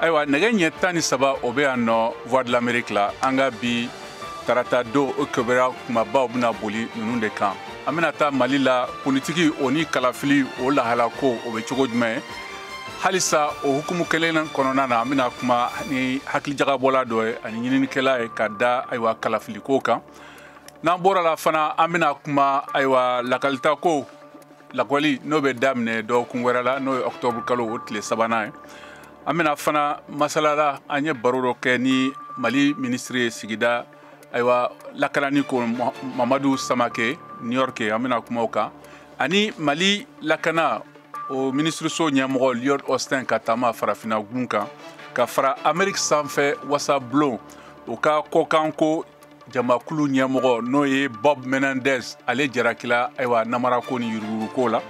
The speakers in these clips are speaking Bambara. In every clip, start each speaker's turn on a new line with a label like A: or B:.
A: ayiwa nɛgɛ ɲɛ tan ni saba o bɛ yan nɔ voix de l'amérique la an ka bi tarata don o kibaruya kumabaw bɛna boli ninnu de kan an bɛna taa mali la politiki o ni kalafili o lahala ko o bɛ cogo jumɛn halisa o hukumu kelen kɔnɔna na an bɛna kuma ni hakilijagabɔla dɔ ye ani ɲininikɛla ye ka da ayiwa kalafiliko kan n'an bɔra la fana an bɛna kuma ayiwa lakalita ko lakɔli n'o bɛ daminɛ dɔgɔkun wɛrɛ la n'o ye ɔktɔburu kalo o tile sabanan ye an bɛna fana masalala an ye baro dɔ kɛ ni mali minisiri ye sigida ayiwa lakanani ko mamadu samake new york an bɛna kuma o kan ani mali lakana o minisiriso ɲɛmɔgɔ lloyd austin ka taama farafina gun kan ka fara ameriki sanfɛ wasabulon o ka kɔkanko jamakulu ɲɛmɔgɔ n'o ye bob menendez ale jarakila ayiwa namarako ni yuruguyuruguko la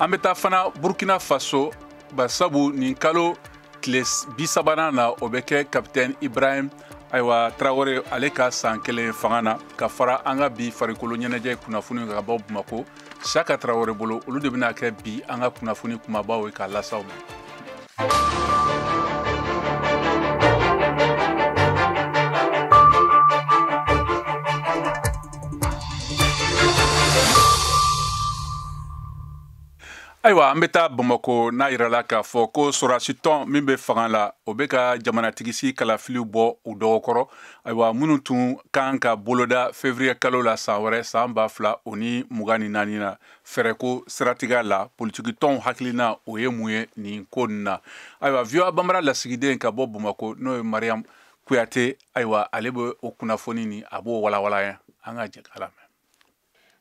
A: an bɛ taa fana burkina faso basabu nin kalo tile bisabanan na o bɛ kɛ kapitɛn ibrahim ayiwa tarawele ale ka san kelen fanga na ka fara an ka bi farikolo ɲɛnajɛ kunnafoni ka bɔ bamako siyaka tarawele bolo olu de bɛna kɛ bi an ka kunnafoni kumabaw ye k'a lase aw ma ayiwa an bɛ taa bamako n'a yirala k'a fɔ ko sorasi tɔn min bɛ fanga la o bɛ ka jamanatigisigi kalafiliw bɔ u dɔgɔkɔrɔ ayiwa minnu tun kan ka boloda fevriye kalo la san wɛrɛ san ba fila o ni mugan ni naani na fɛɛrɛko siratigɛ la politikitɔnw hakilina o ye mun ye nin ko nin na ayiwa voa banbara lasigiden ka bɔ bamako n'o ye mariyamu kuyate ayiwa ale bɛ o kunnafoni ni a b'o walawala yan an ka jɛ k'a lamɛn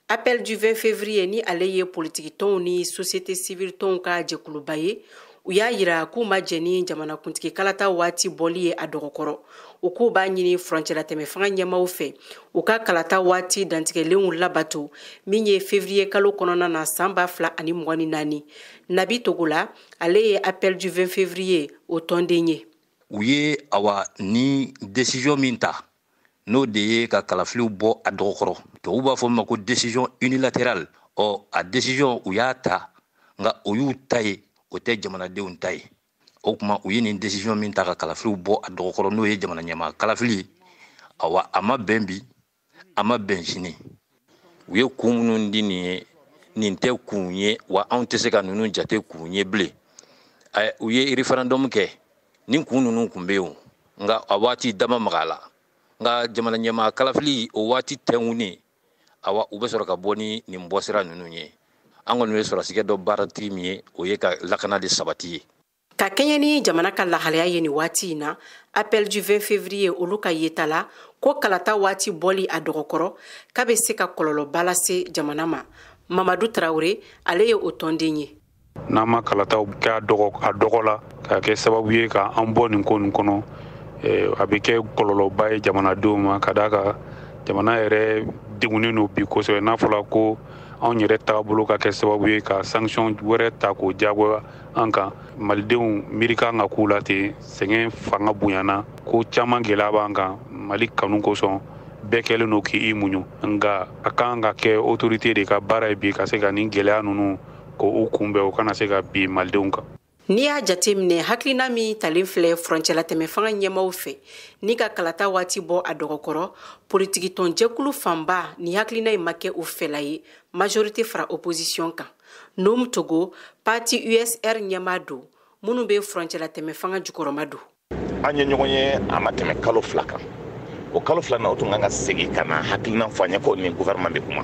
B: Appel du 20 février ni ale ye politiki tɔnw ni société civile tɔnw ka jɛkuluba ye u y'a yira k'u ma jɛn ni jamanakuntigi kalata waati bɔli ye a dɔgɔkɔrɔ u k'u b'a ɲini furancɛlatɛmɛ fanga ɲɛmaaw fɛ u ka kalata waati dantigɛlenw labato min ye fevriye kalo kɔnɔna na san ba fila ani mugan ni naani nabi togola ale ye appel du 20 fevriye o tɔnden ye u ye
C: awa nin desiziyɔn min ta n'o de ye ka kalafiliw bɔ a dɔgɔkɔrɔ tubabu b'a fɔ min ma ko décision unilatérale ɔ a décision u y'a ta nka o y'u ta ye o tɛ jamanadenw ta ye o kuma u ye nin décision min ta ka kalafiliw bɔ a dɔgɔkɔrɔ n'o ye jamana ɲɛmaa kalafili awa a ma bɛn bi a ma bɛn sini u ye kun minnu di nin ye nin tɛ kun ye wa anw tɛ se ka ninnu jate kun ye bilen u ye référendum kɛ nin kun ninnu kun bɛ yen nka a waati dama maga la nka jamana ɲɛmaa kalafili o waati tɛnkunnen awa u bɛ sɔrɔ ka bɔ ni nin bɔsira ninnu ye an kɔni bɛ sɔrɔsikɛ dɔn baaratigi min ye o ye ka lakana de sabati ye ka kɛɲɛ ni
B: jamana ka lahalaya ye nin waati in na appel du 20 février olu ka yeta la ko kalata waati bɔli a dɔgɔkɔrɔ k'a bɛ se ka kɔlɔlɔba lase jamana ma mamadu tarawele ale ye o tɔnden ye n'an ma kalataw
D: kɛ a dɔgɔ la ka kɛ sababu ye ka an bɔ nin ko nin kɔnɔ eh, a bɛ kɛ kɔlɔlɔba ye jamanadenw ma ka d'a kan jamana yɛrɛ degunnen don bi kosɛbɛ n'a fɔra ko anw yɛrɛ taabolo ka kɛ sababu ye ka sanction wɛrɛ ta k'o jagoya an kan malidenw miiri kan ka k'u la ten sɛgɛn fanga bonyana ko caman gɛlɛya b'an kan mali kanu kosɔn bɛɛ kɛlen don k'i muɲu nka a kan ka kɛ otorite de ka baara ye bi ka se ka nin gɛlɛya ninnu k'u kunbɛn u kana se ka bin malidenw kan n'i y'a
B: jateminɛ hakilina min talen filɛ furancɛlatɛmɛ fanga ɲɛmaaw fɛ nin ka kalata waati bɔ a dɔgɔkɔrɔ politikitɔnjɛkulu fanba ni hakilina in ma kɛ u fɛla ye majorite fara opozisiyɔn kan nuhum togo pati usr ɲɛmaa don minnu bɛ furancɛlatɛmɛ fanga jukɔrɔmadon an ye ɲɔgɔn
E: ye a ma tɛmɛ kalo fila kan o kalo fila na o tun kan ka segin ka na hakilinan fɔ an ye ko ni gouvernement bɛ kuma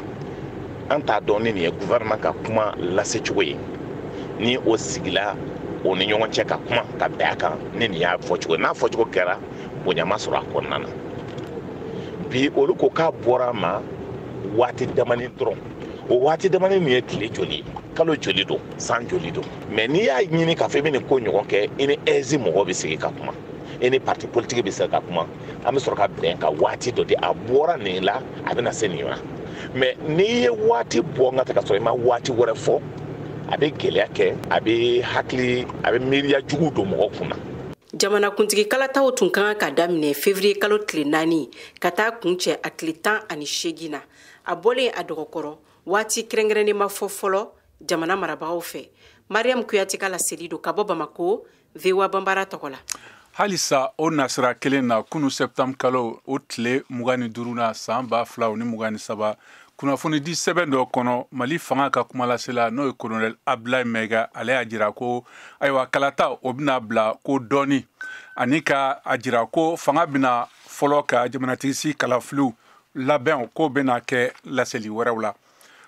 E: an t'a dɔn ni nin ye gouvernement ka kuma lase cogo ye ni o sigila o ni ɲɔgɔn cɛ ka kuma ka bɛn a kan ni nin y'a fɔcogo ye n'a fɔcogo kɛra bonya ma sɔrɔ a kɔnɔna na bi olu ko k'a bɔra a ma waati damani dɔrɔn o waati damani nin ye tile joli ye kalo joli don san joli don mɛ n'i y'a ɲini k'a fɔ i bɛ nin ko ɲɔgɔn kɛ i ni aige mɔgɔw bɛ sigi ka kuma i ni parti politiki bɛ sigi ka kuma an bɛ sɔrɔ ka bɛn ka waati dɔ di a bɔra nin la a bɛna se nin ma mɛ n'i ye waati bɔ n ka tɛ ka sɔrɔ i ma waati wɛrɛ fɔ a bɛ gɛlɛya kɛ a bɛ hakili a bɛ miiriya jugu don mɔgɔ kun na jamanakuntigi
B: kalataw tun ka kan ka daminɛ fevriye kalo tile naani ka taa kuncɛ a tile tan ani seegin na a bɔlen a dɔgɔkɔrɔ waati kɛrɛnkɛrɛnnen ma fɔ fɔlɔ jamana marabagaw fɛ mariam kuyate ka laseli don ka bɔ bamako voa banbara tɔgɔ la halisa o
A: nasira kelen na kunu sɛptanbr kalo o tile mugan ni duuru na san ba fila ni mugan ni saba kunnafonidi sɛbɛn dɔ kɔnɔ mali fanga ka kumalasela n'o ye kolonɛl abdulayi mayiga ale y'a jira ko ayiwa kalata o bɛna bila kɔ dɔɔni ani ka a jira ko fanga bɛna fɔlɔ ka jamanatigisigi kalafiliw labɛn k'o bɛna kɛ laseli wɛrɛw la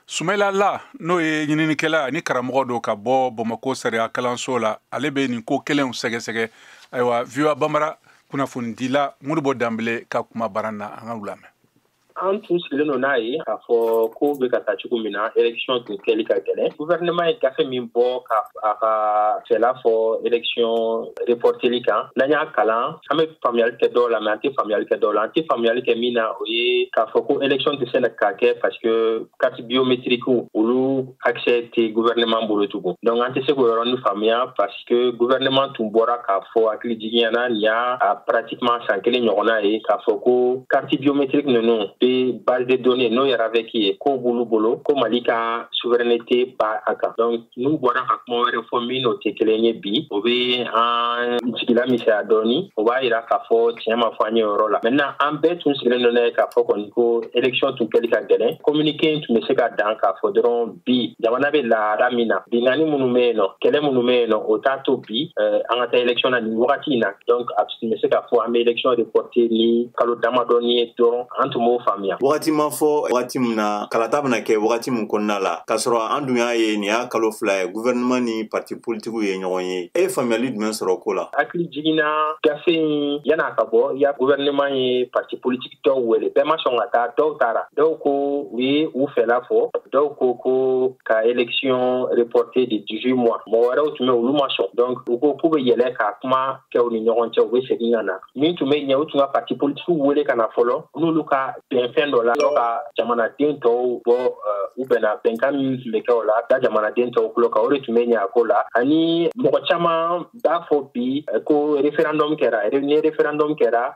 A: sumayila la n'o ye ɲininikɛla ni karamɔgɔ don ka bɔ bamako sariya kalanso la ale bɛ nin ko kelenw sɛgɛsɛgɛ ayiwa voa banbara kunnafonidila modibo danbele ka kuma baran na an ka u lamɛn an
F: tun sigilen don n'a ye k'a fɔ ko bɛ ka taa cogo min na election tun kɛli ka gɛlɛn guvɛrɛnɛman ye gafe min bɔ ka a ka fɛla fɔ election reporteli kan n'an y'a kalan an bɛ faamuyali kɛ dɔw la mais an tɛ faamuyali kɛ dɔw la an tɛ faamuyali kɛ min na o ye k'a fɔ ko election tɛ se ka kɛ parce que carte biométrique olu accès tɛ gouvernement bolo tugun donc an tɛ se k'o yɔrɔnin faamuya parce que gouvernement tun bɔra k'a fɔ hakili jiginyana nin y'a pratiquement san kelen ɲɔgɔnna ye k'a fɔ ko carte biométrique ninnu bɛ base de données n'o ye RAVEC ye k'o b'olu bolo ko Mali ka souveraineté b'a kan donc n'u bɔra ka kuma wɛrɛ fɔ min n'o tɛ kelen ye bi o bɛ an jigi lamisɛnya dɔɔni o b'a yira k'a fɔ tiɲɛ ma fɔ an ye yɔrɔ la maintenant an bɛɛ tun sigilen don n'a ye k'a fɔ kɔni ko election tun kɛli ka gɛlɛn kominike in tun bɛ se ka dan k'a fɔ dɔrɔn bi jamana bɛ lahala min na binkanni minnu bɛ yen nɔ kɛlɛ minnu bɛ yen nɔ o t'a to bi an ka taa election na nin wagati in na donc tun bɛ se k'a fɔ an bɛ election reporte ni kalo damadɔnin ye dɔrɔn an tun b'o faamuya wagati ma
G: fɔ wagati min na kalata bɛna kɛ wagati min kɔnɔna la k'a sɔrɔ an dun y'a ye nin y'a kalo fila ye gouvernement ni parti politikiw ye ɲɔgɔn ye e ye faamuyali jumɛn sɔrɔ ko la hakili jiginna
F: gafe in yan'a ka bɔ ya gouvernement ye parti politiki dɔw wele bɛɛ ma sɔn ka taa dɔw taara dɔw ko u ye u fɛla fɔ dɔw ko ko ka election reporte de 18 mois mɔgɔ wɛrɛw tun bɛ olu ma sɔn donc u ko k'u bɛ yɛlɛ ka kuma kɛ u ni ɲɔgɔn cɛ u bɛ segin ka na min tun bɛ ɲɛ u tun ka parti politikiw wele ka na fɔlɔ n'olu ka bɛn fɛn dɔ la ka jamanaden tɔw bɔ u bɛnna bɛnkan min tun bɛ kɛ o la da jamanaden tɔw tulo kan o de tun bɛ ɲɛ a ko la ani mɔgɔ caman b'a fɔ bi ko referendum kɛra ni referendum kɛra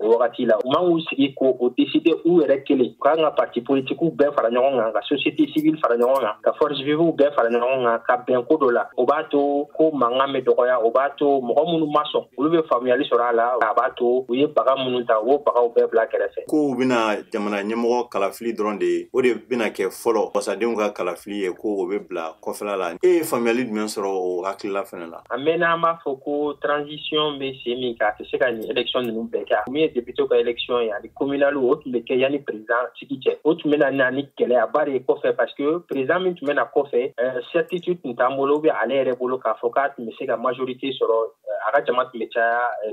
F: o wagati la u man k'u sigi k'o deside u yɛrɛ kelen u kan ka parti politikiw bɛɛ fara ɲɔgɔn kan ka société civile fara ɲɔgɔn kan ka force vivew bɛɛ fara ɲɔgɔn kan ka bɛn ko dɔ la o b'a to ko mankan bɛ dɔgɔya o b'a to mɔgɔ minnu ma sɔn olu bɛ faamuyali sɔrɔ a la a b'a to u ye baga minnu ta u b'o bagaw bɛɛ bila kɛrɛfɛ ko u bɛna
G: jamana ɲɛmɔgɔ kalafili dɔrɔn de ye o de bɛna kɛ fɔlɔ wasadenw ka kalafili ye ko o bɛ bila kɔfɛla la e ye faamuyali jumɛn sɔrɔ o hakilila fana la an mɛnna an b'a
F: fɔ ko transition bɛ sen min kan a tɛ se ka nin election ninnu bɛɛ kɛ min ye deputew ka election ye ani communal o tun bɛ kɛ yanni président sigi cɛ o tun bɛna na ni gɛlɛyaba de ye kɔfɛ parce que président min tun bɛ na kɔfɛ euh, certitude tun t'an bolo ou bien ale yɛrɛ bolo k'a fɔ k'a tun bɛ se ka majorité sɔrɔ euh, a ka jama tun bɛ caya euh,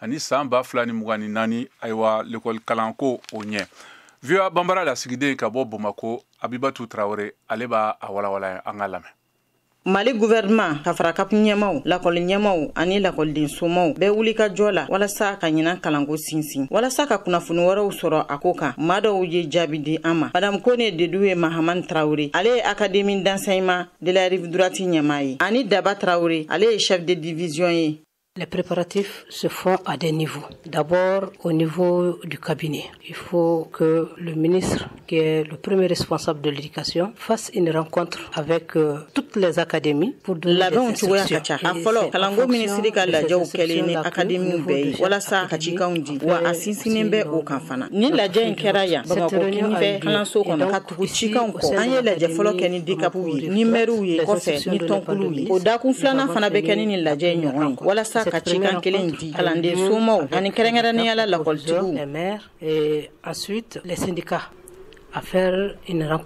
A: ani san ba fila ni mugan ni naani ayiwa lekɔli kalanko o ɲɛ VOA bambara lasigiden ka bɔ bamako abibatu tarawele ale b'a walawala an k'a lamɛn mali
H: guvɛrɛnman ka fara CAP ɲɛmaaw lakɔli ɲɛmaaw ani lakɔliden somaw bɛɛ wulikajɔ la walasa ka ɲinan kalanko sinsin walasa ka kunnafoni wɛrɛw sɔrɔ a ko kan maa dɔw ye jaabi di an ma madam kone dedeou mahamane tarawure ale ye académie d'enseignement de la rive droite ɲɛmaa ye ani daba tarawure ale ye chef de division ye Les
I: préparatifs se font à des niveaux. D'abord au niveau du cabinet. Il faut que le ministre, qui est le premier responsable de l'éducation, fasse une rencontre avec euh, toutes les académies pour donner des instructions. A fɔlɔ
H: kalanko minisiri ka lajɛw kɛlen ni akademiw bɛɛ ye walasa ka cikanw di wa a sinsinnen bɛ o kan fana nin lajɛ in kɛra yan bamakɔ kinifɛ kalanso kɔnɔ Cikan an ye lajɛ fɔlɔ kɛ ni deka ye ni mriw ye ni tɔnkulu ye o dakun filanan fana bɛ kɛ ni ni lajɛ ɲɔgɔn walasa ka cikan kelen di kalanden somaw ani kɛrɛnkɛrɛn
I: ni yalala lakɔliti
H: a
I: sendika a fɛ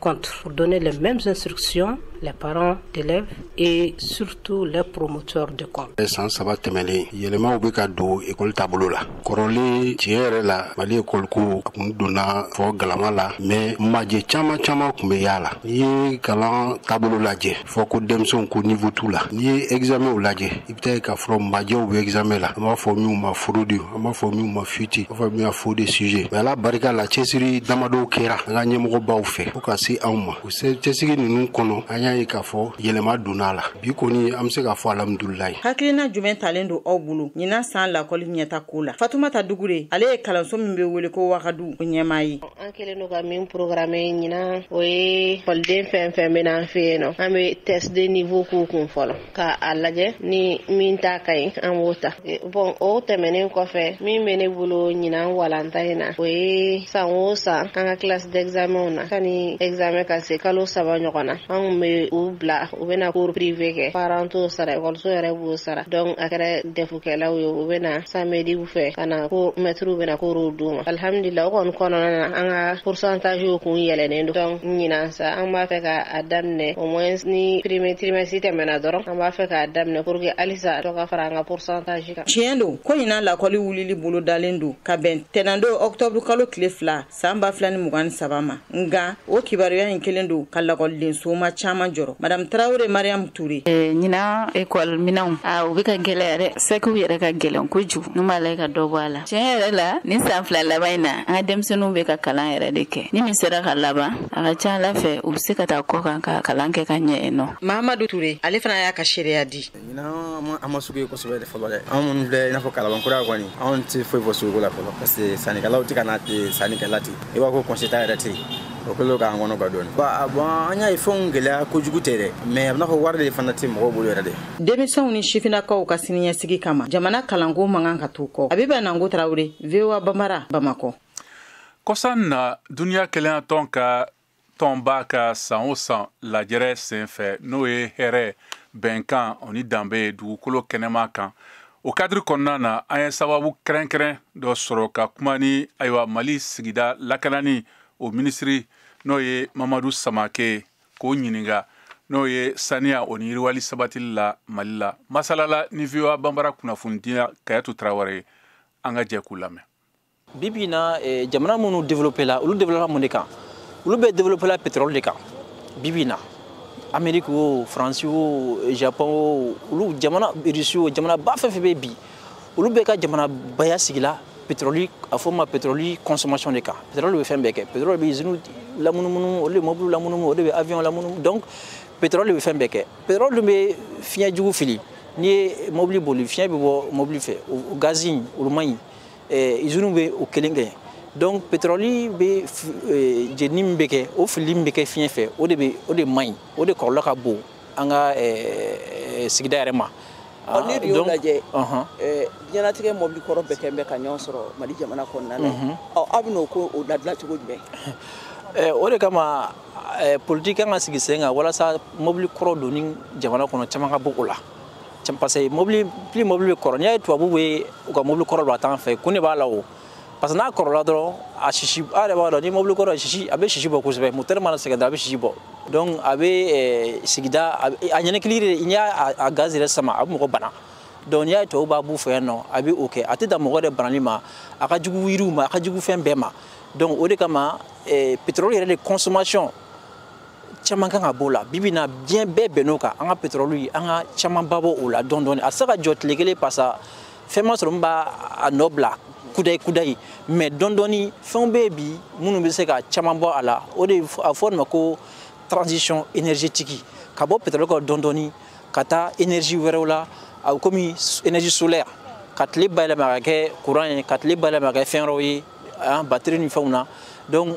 I: kɔntu dɔn ne la mɛ bɛ surusi la baara kɛlɛ e surutu la poromo de kɔ san saba tɛmɛnen
J: yɛlɛmaw bɛ ka don ekɔli taabolo la kɔrɔlen tiɲɛ yɛrɛ la mali ekɔliko a kun donna fɔ galama la mais majɛ caman caman kun be y'a la n'i ye kalan taabolo lajɛ fɔ ko denmisɛnw ko niveau t'u la n'i ye egzamɛnw lajɛ i be taa k'a sɔrɔ majɛw be egzamɛn la an b'a fɔ minw ma fraude an b'a fɔ minw ma fuite an b'a fɔ min ma faux de sujet mais ala barika la cɛsiri damadɔw kɛra an ka ɲɛmɔgɔbaw fɛ fo ka se anw ma o cɛsiri ninnu kɔnɔ an y'a ye k'a fɔ yɛlɛma donna a la bi kɔni an be se k'a fɔ alhamdulilayi hakilina jumɛn talen
H: don aw bolo ɲinan saan lakɔli ɲɛta ko la fatumata dugure ale ye kalanso min be wele ko wagadu o ɲɛmaa ye an kɛlen don ka
K: min programmer ɲinan o ye ekɔliden fɛn fɛn bena an fɛ yen nɔ an be test de niveau k'u kun fɔlɔ ka a lajɛ ni min ta ka ɲi an b'o ta bon o tɛmɛnen kɔfɛ min bɛ ne bolo ɲinan walanda in na o ye san o san an ka classe d'examenw na sani ɛgizamɛn ka se kalo saba ɲɔgɔn na an kun bɛ u bila u bɛna cours privé kɛ parents t'o sara ekɔliso yɛrɛ b'o sara donc a kɛra DEF kɛlaw ye u bɛna samediw fɛ ka na ko mɛtiriw bɛna cours d'u ma alhamdulila o kɔni kɔnɔna na an ka pourcentagew kun yɛlɛnen don donc ɲinan sa an b'a fɛ ka a daminɛ au moins ni premier trimestre tɛmɛna dɔrɔn an b'a fɛ k'a daminɛ pour que halisa dɔ ka fara an ka pourcentage kan tiɲɛ don ko ɲinan
H: lakɔli wulili bolo dalen don ka bɛn tɛnɛndon octobre kalo tile fila saan ba fila ni mugan ni saba ma nka o kibaruya in kɛlen don ka lakɔlidensoma caaman jɔrɔ madam tarawure mariam ture eh, ɲinan ekɔl
L: minɛnw a ah, u be ka gwɛlɛya dɛ sɛkiw yɛrɛ ka gwɛlɛn kojugu n'u m'a lajɛ ka dɔ bɔ a la tiɲɛ yɛrɛ la nin saan fila laban in na an ka denmisɛniw be ka kalan yɛrɛ de kɛ ni min sera ka laban a ka ca ala fɛ u be se ka taa kɔkan ka kalan kɛ ka ɲɛ yen nɔ mahamadu ture ale fana
H: y'a ka seereya di ɲinan an ma- an
M: ma sugu ye kosɛbɛ de fɔlɔ dɛ anw minnu filɛ i n'a fɔ kalabankura kɔni anw tɛ foyi fɔ suguko la fɔlɔ parce que sannikɛlaw tɛ ka na ten sannikɛla ten i b'a ko conséquent yɛrɛ tɛ yen o kɛlen don k'an kɔnɔgan dɔɔni Ba- a- bon an y'a ye fɛnw gɛlɛya kojugu tɛ dɛ mais a bɛ n'a fɔ wari de fana tɛ mɔgɔw bolo yɛrɛ de denmisɛnw
H: ni sifinnakaw ka siniɲɛsigi kama jamana kalanko man kan ka to kɔ abiba nango tarawure voa bambara bamakɔ kɔsan
A: na duniya kelenyatɔn ka tɔnba ka san o san lajɛrɛ senfɛ n'o ye hɛrɛ bɛnkan o ni danbe ye dugukolo kɛnɛma kan o kadiri kɔnɔna na an ye sababu kɛrɛnkɛrɛn dɔ sɔrɔ ka kuma ni ayiwa mali sigida lakanani o minisiri n'o ye mamadu samake k'o ɲininka n'o ye saniya o ni yiriwali sabatili la mali la masalala ni voa banbara kunnafonidila kajatu tarawele an ka jɛ k'u lamɛn bi bi in
N: na eh, jamana minnu développé la olu développé mun de kan olu bɛɛ développé la pétrole de kan bi bi in na amérique o faransi o japon o olu jamana russie o jamanaba fɛn fɛn bɛ bi olu bɛɛ ka jamanabaya sigila pétrole a fɔ ma pétrole consommation de kan pétrole bɛ fɛn bɛɛ kɛ pétrole bɛ usine lamunumunu o de bɛ mobili lamunumunu o de bɛ avion lamunumunu donc pétrole bɛ fɛn bɛɛ kɛ pétrole dun bɛ fiɲɛ jugu fili n'i ye mobili boli fiɲɛ bɛ bɔ mobili fɛ o gazi in olu man ɲi eh, iziniw bɛ o kelen kɛ donc pétrole bɛ eh, jenini min bɛ kɛ o filili min bɛ kɛ fiɲɛ fɛ o de bɛ o de man ɲi o de kɔlɔlɔ ka bon an ka eh, sigida yɛrɛ ma ah, n'i y'o lajɛ
O: diɲɛnatigɛ mobili kɔrɔ bɛɛ kɛlen bɛ ka ɲɔgɔn sɔrɔ mali jamana kɔnɔna na mhm. aw bɛn'o ko o labila cogo jumɛn Eh, o de kama
N: eh, politiki kan ka sigi sen kan walasa mobili kɔrɔ donni jamana kɔnɔ caman ka bɔ o la parce que mobili plus mobili bɛ kɔrɔ n'i y'a ye tubabu bɛ u ka mobili kɔrɔ don a t'an fɛ kun de b'a la o parce que n'a kɔrɔla dɔrɔn a sisi a yɛrɛ b'a dɔn ni mobili kɔrɔ sisi a bɛ sisi bɔ kosɛbɛ motɛri mana sɛgɛn dɔrɔn a bɛ sisi bɔ donc a bɛ eh, sigida a ɲɛnɛkili de n'i y'a gaz yɛrɛ sama a bɛ mɔgɔ bana donc n'i y'a ye tubabu b'a b'u fɛ yan nɔ a bɛ o kɛ a tɛ dan mɔgɔ yɛrɛ banali ma a ka jugu yiriw ma a ka jugu fɛn bɛɛ ma donc o de kama eh, pétrole yɛrɛ de consommation caman kan ka b'o la bibi na diɲɛ bɛɛ bɛnn'o kan an ka pétrole an ka camanba bɔ o la dɔɔni dɔɔni a tɛ se ka jɔ tile kelen parce que fɛn ma sɔrɔ min b'a nɔ bila kudayi kudayi mais dɔɔni dɔɔni fɛnw bɛ yen bi minnu bɛ se ka caman bɔ a la o de a fɔ nin ma ko transition énergétique ka bɔ pétrole kɔrɔ dɔɔni dɔɔni ka taa énergie wɛrɛw la a bɛ komi énergie solaire ka tile bayɛlɛma ka kɛ courant ye ka tile bayɛlɛma ka kɛ fɛn wɛrɛw ye batterie ni fɛnw na donc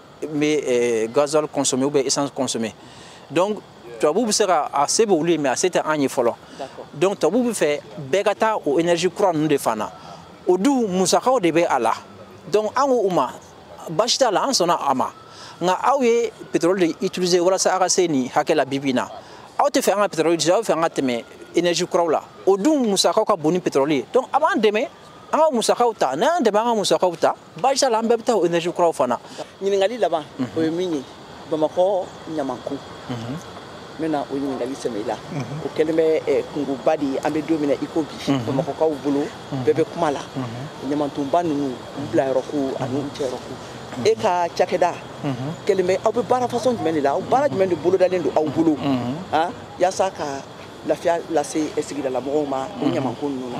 N: bɛ eh, gasoil consommer ou essence consommer donc tubabu bɛ se ka a se bɛ olu ye mais a se tɛ an ye fɔlɔ donc tubabu bɛ fɛ bɛɛ ka taa o énergie kura ninnu de fan na o dun musakaw de bɛ a la donc an ko u ma baasi t'a la an sɔnna a ma nka aw ye pétrole de utiliser walasa aw ka se nin hakɛ la bibi in na aw tɛ fɛ an ka pétrole utiliser aw bɛ fɛ an ka tɛmɛ énergie kuraw la o dun musakaw ka bon ni pétrole ye donc a b'an dɛmɛ an ka musakaw ta n'aw y'an dɛmɛ an ka musakaw ta baasi t'a la an bɛɛ bɛ taa o énergie kuraw fana ɲininkali
O: laban o ye min ye bamakɔ ɲamanko n bɛna o ɲininkali sɛmɛ i la o kɛlen bɛ eh, kunkoba de ye an bɛ don min na i ko bi bamakɔkaw bolo bɛɛ bɛ kuma la ɲamantonba ninnu u bilayɔrɔ ko ani u cɛyɔrɔ ko e ka cakɛda kɛlen bɛ aw bɛ baara façon jumɛn de la aw baara jumɛn de bolodalen don aw bolo ah, yaasa ka lafiya lase sigidala mɔgɔw ma o ɲamanko ninnu
N: na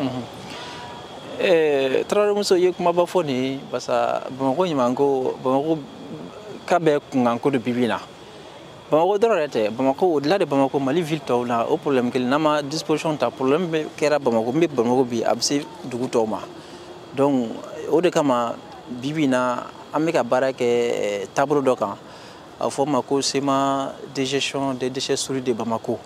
N: tarawelemuso ye kumaba fɔ nin ye parce que bamakɔ ɲamanko bamakɔkaw bɛɛ kunkanko de bi bi in na bamakɔ dɔrɔn yɛrɛ tɛ bamakɔ au-delà de bamakɔ mali ville tɔw la o problème kelen n'an ma disposition ta problème min kɛra bamakɔ min bɛ bamakɔ bi a bɛ se dugu tɔw ma donc o de kama bi bi in na an bɛ ka baara kɛ eh, taabolo dɔ kan a fɔ o ma ko schéma de gestion des déchets solides de bamako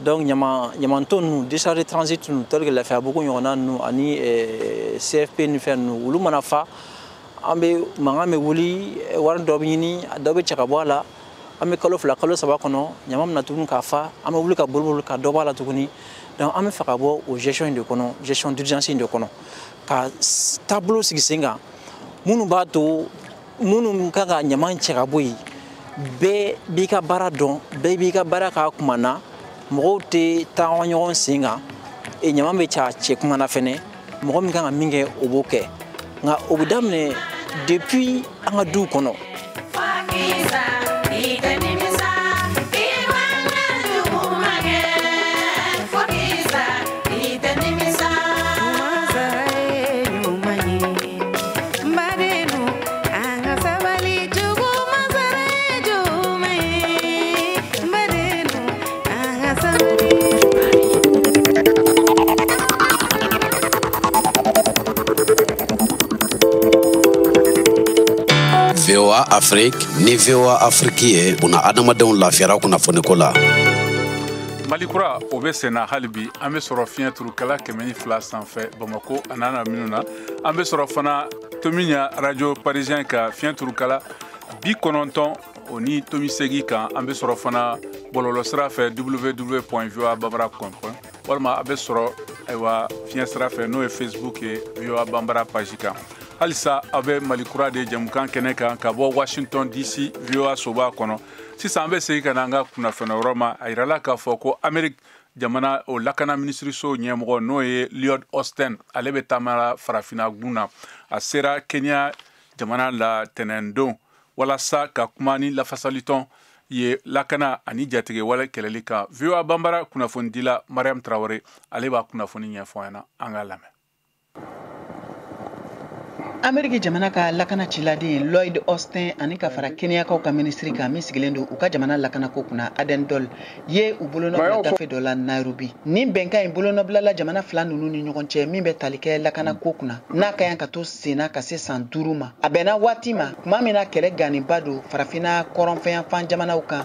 N: donc ɲamanton ninnu décharge de transit ninnu tel que lafiyabugu ɲɔgɔnna ninnu ani eh, cfp ni fɛn ninnu olu mana fa an bɛɛ mankan bɛ wuli eh, wari dɔ bɛ ɲini dɔ bɛ cɛ ka bɔ a la an bɛ kalo fila kalo saba kɔnɔ ɲaman bɛ na tuguni k'a fa an bɛ wuli ka boliboli ka dɔ bɔ a la tuguni donc an bɛ fɛ ka bɔ o gestion in de kɔnɔ gestion d'urgence in de kɔnɔ ka taabolo sigi sen kan minnu b'a to minnu kan ka ɲaman cɛ ka bɔ yen bɛɛ b'i ka baara dɔn bɛɛ b'i ka baara k'a kuma na mɔgɔw tɛ taama ɲɔgɔn sen kan e ɲaman bɛ c'a cɛ kuma na fɛnɛ mɔgɔ min kan ka min kɛ o b'o kɛ nka o bɛ daminɛ depuis an ka duw kɔnɔ
P: VOA Afrique ni VOA Afrique ye u na adamadenw lafiyara kunnafoniko la. Mali
A: kura o bɛ senna hali bi an bɛ sɔrɔ fiɲɛ turukala kɛmɛ ni fila sanfɛ Bamako an'a lamini na. an bɛ sɔrɔ fana tomiɲa radio parisien ka fiɲɛ turukala bi kɔnɔntɔn o ni tomi segin kan an bɛ sɔrɔ fana bɔlɔlɔ sira fɛ www point voa banbara com walima a bɛ sɔrɔ ayiwa fiɲɛ sira fɛ n'o ye facebook ye voa banbara page kan halisa aw bɛ mali kura de jɛmukan kɛnɛ kan ka bɔ washington dc voa soba kɔnɔ sisan an bɛ segin ka na an ka kunnafoni yɔrɔ ma a yirala k'a fɔ ko ameriki jamana o lakana minisiriso ɲɛmɔgɔ n'o ye lloyd austin ale bɛ taama ra farafina gun na a sera kenya jamana la tɛnɛndon walasa ka kuma ni lafasalitɔn ye lakana ani jatigɛwale kɛlɛli kan voa banbara kunnafonidila mariam tarawele ale b'a kunnafoni ɲɛfɔ an ɲɛna an k'a lamɛn
H: ameriki jamana ka lakana ciladen lloyd austin ani ka fara keniyakaw ka minisiri kan min sigilen don u ka jamana lakanako kunna aden duale ye u bolonɔbila gafe dɔ la nairobi nin bɛnkan in bolonɔbilala jamana fila nunu ni ɲɔgɔn cɛ min bɛ tali kɛ lakanako kunna n'a ka yan ka to senna ka se san duuru ma a bɛnna waati ma tuma min na kɛlɛ ganinba don farafina kɔrɔnfɛyanfan jamanaw kan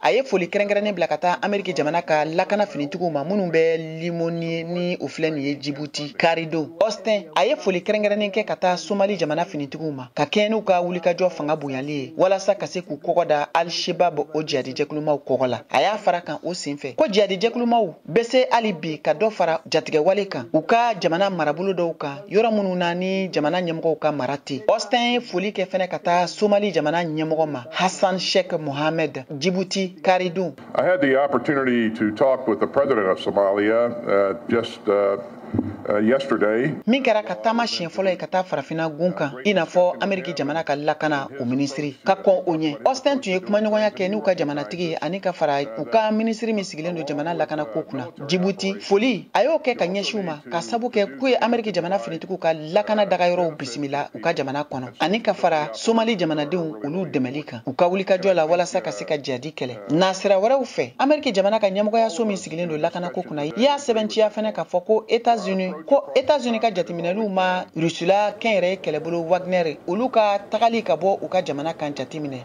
Q: a ye
H: foli kɛrɛnkɛrɛnnen bila ka taa ameriki jamana ka lakana finitigiw ma minnu bɛ lemonnier ni o filɛ nin ye jibuti karidon austin a ye foli kɛrɛnkɛrɛnnen kɛ ka taa somali jamana finitigiw ma ka kɛɲɛ n'u ka wulikajɔ fanga bonyali ye walasa ka se k'u kɔgɔ da al shabaab o jihadijɛkulumaw kɔgɔ la a y'a fara kan o sen fɛ ko jihadijɛkulumaw bɛ se hali bi ka dɔ fara jatigɛwale kan u ka jamana marabolo dɔw kan yɔrɔ minnu na ni jamana ɲɛmɔgɔw ka mara tɛ austin ye foli kɛ fɛnɛ ka taa somali jamana ɲɛmɔgɔ ma hassan sheikh mohammed
R: djibouti karidun i had the opportunity
Q: to talk with the president of somalia uh, just uh... Uh, min kɛra a
R: ka taama siɲɛ fɔlɔ ye ka taa farafina gun kan i n'a fɔ ameriki jamana ka lakana o minisiri ka kɔn o ɲɛ austin tun ye kumaɲɔgɔnya kɛ n'u ka jamanatigi ani ka fara u ka minisiri min sigilen don jamana lakana ko kunna jibuti foli a y'o kɛ ka ɲɛsin u ma k'a sabu kɛ k'u ye ameriki jamana finitigiw ka lakana dagayɔrɔw bisimila u ka jamana kɔnɔ ani ka fara somali jamanadenw olu dɛmɛli kan u ka wulikajɔ la walasa ka se ka jihadi kɛlɛ nasira wɛrɛw fɛ ameriki jamana ka ɲɛmɔgɔyaso min sigilen don lakanako kunna y'a sɛbɛntiya fɛnɛ k'a fɔ ko etats unis ko etats unis ka jateminɛliw ma rusila kɛnyɛrɛye kɛlɛbolo wagner olu ka tagali ka bɔ u ka jamana kan jateminɛ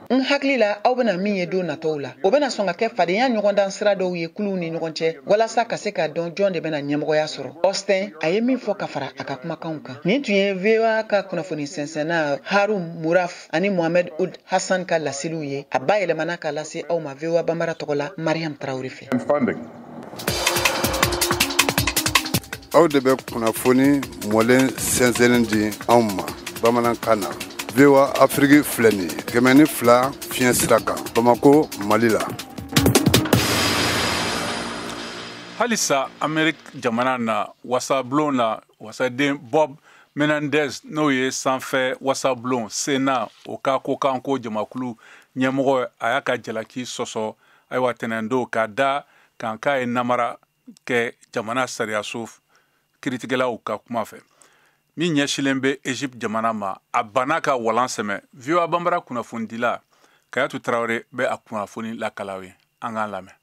Q: n hakili
R: la aw bena min ye don natɔw la o bena sɔn ka kɛ fadenya ɲɔgɔndan sira dɔw ye kuluw ni ɲɔgɔn cɛ walasa ka se k'a dɔn jɔn de bena ɲɛmɔgɔya sɔrɔ austin a ye min fɔ ka fara a ka kumakanw kan nin tun ye voa ka kunnafoni sɛnsɛnna harun maruf ani mohamɛd olad hasan ka laseliw ye a bayɛlɛmana k'a lase aw ma voa banbara tɔgɔ la mariam tarawele fɛ
S: aw de bɛ kunnafoni mɔlen sɛnsɛnnen di anw ma bamanankan na voa afiriki filɛ nin ye kɛmɛ ni fila fiɲɛ sira kan bamako mali la
A: halisa ameriki jamana na wasablon na wasaden bob menendez n'o ye sanfɛ wasablon sena o ka kokanko jamakulu ɲɛmɔgɔ a y'a ka jalaki sɔsɔ ayiwa tɛnɛndon k'a da a kan k'a ye namara kɛ jamana sariyaso kiritigɛlaw ka kuma fɛ min ɲɛsilen bɛ egypte jamana ma a banna ka walan sɛmɛ voa banbara kunnafonidila kayatu tarawele bɛ a kunnafoni lakali aw ye an k'a lamɛn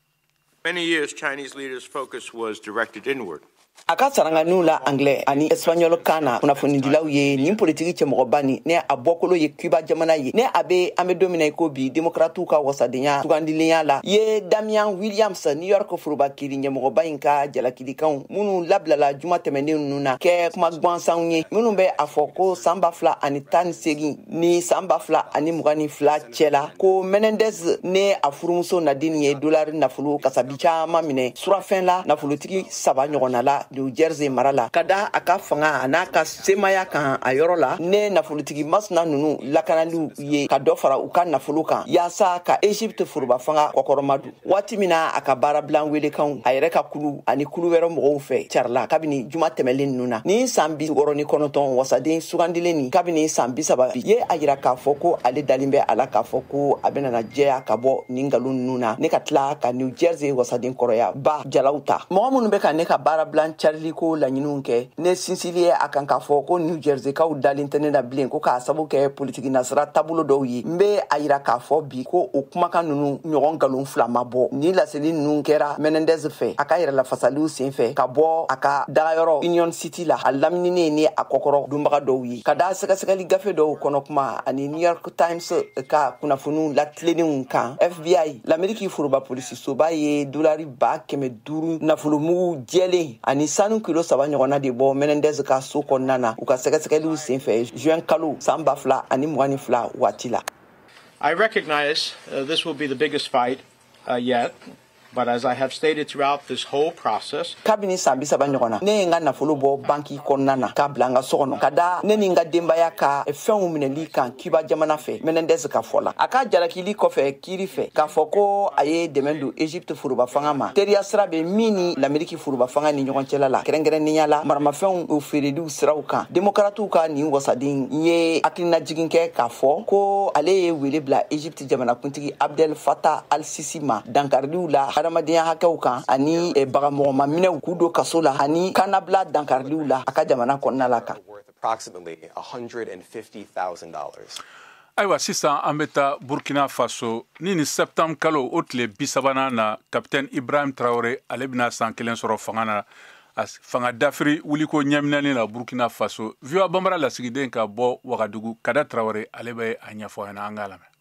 A: Many years,
T: Chinese leaders' focus was directed inward. a ka
O: saranganiw la anglais ani espagnol kan na kunnafonidilaw ye nin politiki cɛmɔgɔba ni ne a bɔkolo ye cuba jamana ye ne a be an be don min na i ko bi demokratiw ka wasadenya sugandilenya la ye damian williams new york foroba kiri ɲɛmɔgɔba in ka jalakilikanw minnu labilala juma tɛmɛnen nunu na kɛ kuma gwansanw ye minnu bɛ a fɔ ko saan ba fila ani tan ni seegin ni saan ba fila ani mugan ni fila cɛla ko menendez ne a furumuso nadine ye dolari nafolo kasabi caaman minɛ surafɛn la nafolotigi saba ɲɔgɔnna la new jersey mara la ka da a ka fanga an'a ka semaya kan a yɔrɔ la ne nafolotigi masina nunu lakanaliw ye ka dɔ fara u ka nafolo kan yaasa ka egypte foroba fanga kɔkɔrɔmadon waati min na a ka baarabilan welekanw a yɛrɛ ka kulu ani kulu wɛrɛ mɔgɔw fɛ carila kabini juma tɛmɛlen ninnu na nin saan bi wɔɔrɔ ni kɔnɔtɔn wasaden sugandilen nin kabini saan bisaba bi ye a yira k'a fɔ ko ale dalen bɛ a la k'a fɔ ko a benana jɛya ka bɔ nin nkalon ninnu na ne ka tila ka new jersey wasaden kɔrɔya ba jalaw ta mɔgɔ minnu bɛ ka ne ka baarabilan cariliko laɲiniw kɛ ne sinsili ye a kan k'a fɔ ko new jerseykaw dalen tɛ ne na bilen ko k'a sabu kɛ politiki nasira taabolo dɔw ye n be a yira k'a fɔ bi ko o kumakan nunu ɲɔgɔn nkalon fila ma bɔ nin laseli nunu kɛra menendez fɛ a ka yɛrɛlafasaliw sen fɛ ka bɔ a ka dagayɔrɔ union city la a lamininen ni a kɔkɔrɔdonbaga dɔw ye ka da sɛgɛsɛgɛli gafe dɔw kɔnɔ kuma ani new york times ka kunnafoniw latilenenw kan fbi lameriki foroba polisisoba ye dolari ba kɛmɛ duuru nafolomugu jɛlen ani sanu kilo saba ɲɔgɔnna de bɔ menendez ka so kɔnɔna na u ka sɛgɛsɛgɛliw sen fɛ juin kalo saan ba fila ani mugan ni fila waati la
U: I recognize uh, this will be the biggest fight uh, yet. But as I have stated throughout this whole process, kabini san bi saba
O: ɲɔgɔnna ne ye n ka nafolo bɔ banki kɔnɔna na k'a bila n ka so kɔnɔ ka da ne ni n ka denbaya ka fɛnw minɛli kan cuba jamana fɛ menendez ka fɔ la a ka jalakili kɔfɛ kiri fɛ k'a fɔ ko a ye dɛmɛ don egypte foroba fanga ma teriya sira bɛ min ni lameriki foroba fanga ni ɲɔgɔn cɛla la kɛrɛnkɛrɛnnenya la maramafɛnw feereliw siraw kan demokratiw ka nin wasaden in ye hakilinajigin kɛ k'a fɔ ko ale ye wele bila egypte jamanakuntigi abdel fattah al sisi ma dankariliw la hadamadenya hakɛw kan ani eh, bagamɔgɔma minɛw k'u don kaso la ani kannabila dankariliw la a ka jamana kɔnɔna la
V: kan ayiwa
A: sisan an bɛ taa burkina faso ni nin septembre kalo o tile bisabanan na kapitɛni ibrahim traore ale bɛna san kelen sɔrɔ fanga na fanga dafiri wuliko ɲɛminɛni na burkina faso voa bambara lasigiden ka bɔ wagadugu kader traore ale bɛ a ɲɛfɔ yan an k'a lamɛn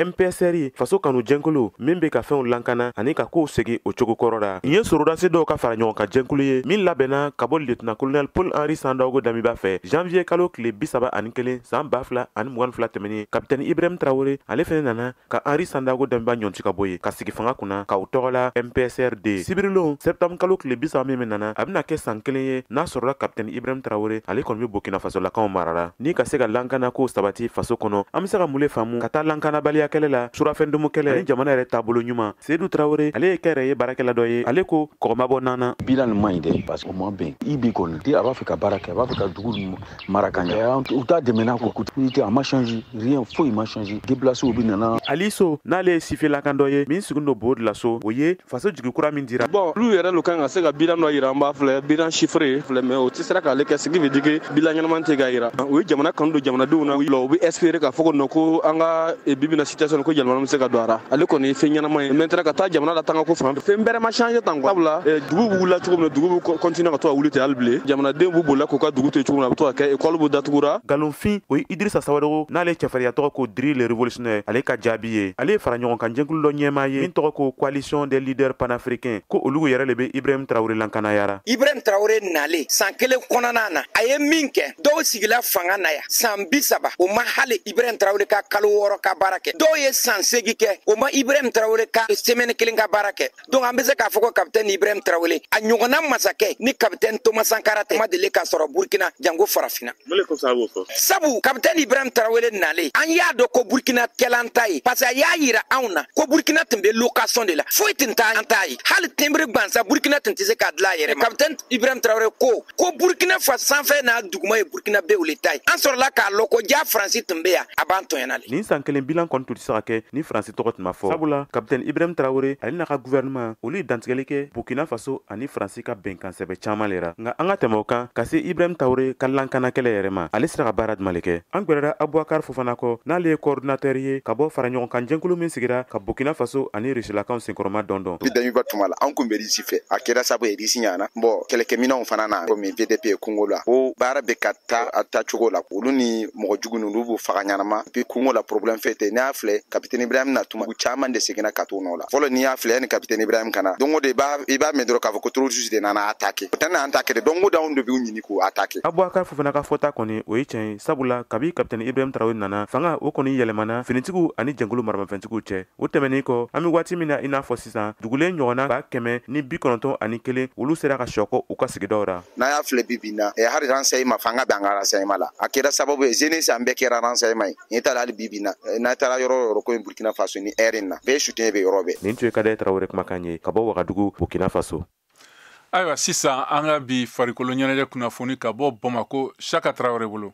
A: mpsr
C: faso kanu jɛnkulu min be ka fɛnw lankana ani ka koow segi o cogo kɔrɔ la nin ye sorodasi dɔw ka faraɲɔgɔnkan jɛnkulu ye min labɛnna ka bɔ lieutenant colonel paul henri sandaogo damiba fɛ janviye kalo tile bisaba ani kelen saan ba fila ani mugan ni fila tɛmɛnin kapitɛni ibrahim traore ale fɛnɛ nana ka henri sandaogo damiba ɲɔnti ka bɔ ye ka sigi fanga kunna k'u tɔgɔ la mpsrd sibirilon sɛptamu kalo tile bi saba min nana a bɛna kɛ san kelen ye n'a sɔrɔla kapitɛni ibrahim tarawele ale kɔni bɛ burkina fasolakaw marara ni ka se ka lankanakow sabati faso kɔnɔ an bɛ se ka mun le faamu ka taa lankanabaliya kɛlɛ la surafɛndumu kɛlɛ ani jamana yɛrɛ taabolo ɲuman sedu tarawele ale ye kɛyɛrɛye baarakɛla dɔ ye ale ko kɔgɔ ma bɔ na na bilan nin man ɲi dɛ parce
V: que o ma bɛn ib kɔni a b'a fɛ ka baara kɛ a b'a fɛ ka dugu mara ka ɲɛ u t'a dɛmɛna ko kuti unité a ma change rien foyi ma change déplacéw be nana ali so n'ale ye
C: sifelakan dɔ ye min sigin lo bobo julaso o ye faso jigi kura min dira bon olu yɛrɛ lo kan ka se
W: ka bilan dɔ yira an b'a filɛ bilan chiffré filɛ mais o tɛ sera k'ale kɛ ce qui veut dire que bilan ɲɛnaman tɛ k'a yira u ye jamana kanu don jamanadenw na u bɛ espérer k'a fɔ ko non ko an ka bi bi in na situation ko yɛlɛma bɛ se ka don a ra ale kɔni ye fɛn ɲɛnama ye maintenant ka taa jamana latanga ko fan fɛn bɛrɛ ma change tan quoi sabula eh, dugu bɛ wulila cogo min na dugu bɛ continuer ka to ka wuli ten hali bilen jamanadenw bɛ bolila k'u ka dugu to yen cogo min na a bɛ to ka kɛ écolew bɛ datugura galonfin o ye idirisa
C: sawadogo n'ale cɛfarinya tɔgɔ ko diri le révolutionnaire ale ka jaabi ye ale ye fara ɲɔgɔn kan jɛnkulu dɔ ɲɛmaa ye min tɔgɔ ko coalition des leaders panafricains ko olu yɛrɛ le bɛ ibrahim tarawele lankanayara ibrahim tarawele
X: nalen san kelen kɔnɔna na a ye min kɛ dɔw sigila fanga na yan san bi saba o ma hali ibrahim tarawele ka kalo wɔɔrɔ ka baara kɛ dɔw ye san seegi kɛ o ma ibrahim tarawele ka semɛni kelen ka baara kɛ donc an be se k'a fɔ ko kapitɛni ibrahim tarawele a ɲɔgɔnna masakɛ ni kapitɛni toma sankara tɛ o ma deli ka sɔrɔ burkina janko farafina sabu kapitɛni ibrahim tarawele nale an y'a dɔn ko burkina kɛla an ta ye parce que a y'a yira anw na ko burkina tun be location de la foyi tun t'an ta ye hali tɛnbiri gwansan burkina tun tɛ se k'a dilan a yɛrɛ ma kapitɛni ibrahim tarawele ko ko burkina faso sanfɛ n'a duguma ye burkinabew le ta ye an sɔrɔla k'a lɔn ko ja faransi tun be yan a b'an tɔɲɔna le nin san kelen bilan kɔni tun tɛ
C: se ka kɛ ni faransi tɔgɔ tun ma fɔ sabula kapitɛni ibrahim tarawele ale n'a ka guvɛrɛnɛman olu ye dantigɛli kɛ burkina faso ani faransi ka bɛnkan sɛbɛ caaman le ra nka an ka tɛmɛ o kan ka se ibrahim tarawele ka lankana kɛlɛ yɛrɛ ma ale sera ka baara juman le kɛ an gwɛrɛra abubakar fofana kɔ n'ale ye kɔɔrdinatɛri ye ka bɔ fara ɲɔgɔn kan jɛnkulu min sigira ka burkina faso ani rusilakaw kɔrɔma dondon damiba tuma la an
Y: kun bɛ risi fɛ a kɛra sabu ye risi nana bon kɛlɛkɛminɛw fana na komi vdp ye kungo la o baara bɛ ka taa a taa cogo la olu ni mɔgɔ jugu ninnu b'u faga ɲanama bi kungo la problème fɛ tɛ n'i y'a filɛ kapitɛni ibrahim na tuma u caman de seginna ka t'o nɔ la fɔlɔ n'i y'a filɛ yani kapitɛni ibrahim ka na don o don i b'a i b'a mɛn dɔrɔn k'a fɔ ko terroriste de nana attaquer o tɛ na attaquer de don o don anw de b'u ɲini k'u attaquer abubakar fofana ka fɔta
C: kɔni o ye tiɲɛ ye sabula kabi kapitɛni ibrahim tarawele nana fanga o kɔni yɛlɛmana finitigiw ani jɛnkulu maramafɛntigiw cɛ o tɛmɛnin kɔ an be waati min na i n'a fɔ sisan dugulen ɲɔgɔnna ba kɛmɛ ni bi kɔnɔntɔn ani kelen olu sera ka sɔkɔ u ka sigidaw ra n'a y'a filɛ bi bi in na
Y: eh, hali renseignement fanga bɛ an ka renseignement la a kɛra sababu ye jeunesse an bɛɛ kɛra renseignement ye n'i taala hali bi bi in na eh, n'a taara yɔrɔ o yɔrɔ quoi burkina faso nin yɛrɛ in na bɛɛ soutien bɛ yɔrɔ bɛɛ nin tun ye kadɛ
C: tarawele kumakan ye ka bɔ wagadugu burkina faso ayiwa
A: sisan an ka bi farikolo ɲɛnajɛ kunnafoni ka bɔ bamako saka tarawele bolo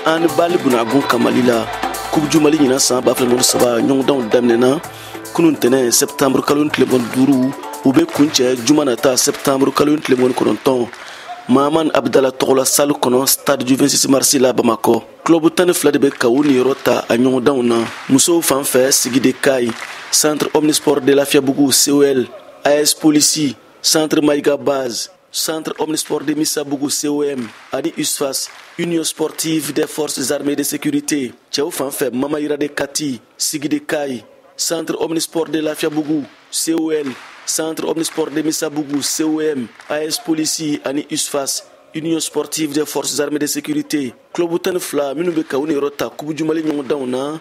Z: anbali bunda kun kan mali la coupe du mali ɲinan san ba fila mugan ni saba ɲɔgɔndanw daminɛna kunu ntɛnɛ sɛptanburu kalo in tile mugan ni duuru u bɛ kuncɛ juma nata sɛptanburu kalo in tile mugan ni kɔnɔntɔn mahamani abudala tɔgɔla salle kɔnɔ stade du 26 marsi la bamakɔ club tan ni fila de bɛ ka u niyɔrɔ ta a ɲɔgɔndanw na musow fan fɛ sigi de kayes centre omnisport de lafiyabugu col as polisi centre mayiga base centre omnisport de misabugu com ani usfas union sportive des forces armées de sécurité cɛw fan fɛ mamayira de kati sigi de kayes centre omnisport de lafiyabugu col centre omnisport de misabugu com as polisi ani usfas Union sportive des forces armées de sécurité club tan ni fila minnu bɛ ka u niyɔrɔ ta coupe du mali ɲɔgɔndanw na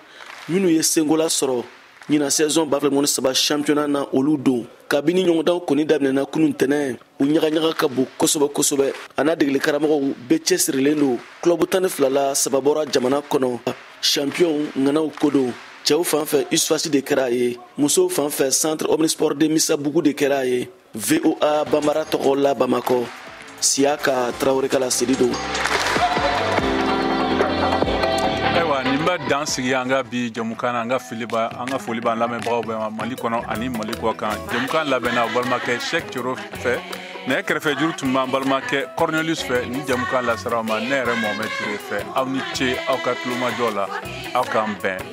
Z: minnu ye senkola sɔrɔ ɲina saison ba fila mugan ni saba championnat na olu don kabini ɲɔgɔndanw kɔni daminɛna kunun tɛnɛ u ɲagaɲaga ka bon kosɛbɛ kosɛbɛ a n'a degeli karamɔgɔw bɛɛ cɛsirilen don club tan ni fila la saba bɔra jamana kɔnɔ champion ŋanaw ko don cɛw fan fɛ usfasi de kɛra a ye musow fan fɛ centre omnisport de misabugu de kɛra a ye voa bambara tɔgɔ la bamakɔ siyaka tarawele ka laseli
A: don ayiwa nin bɛ dan sigi an ka bi jamukan na an ka fili ba an ka foli b'an lamɛnbagaw bɛɛ ma mali kɔnɔ ani mali kɔkan jamukan labɛnna balimakɛ sɛk cero fɛ ne kɛrɛfɛ juru tun b'an balimakɛ cornelius fɛ ni jamukan lasera aw ma ne yɛrɛ mohamɛd ture fɛ aw ni ce aw ka tulomajɔ la aw k'an bɛn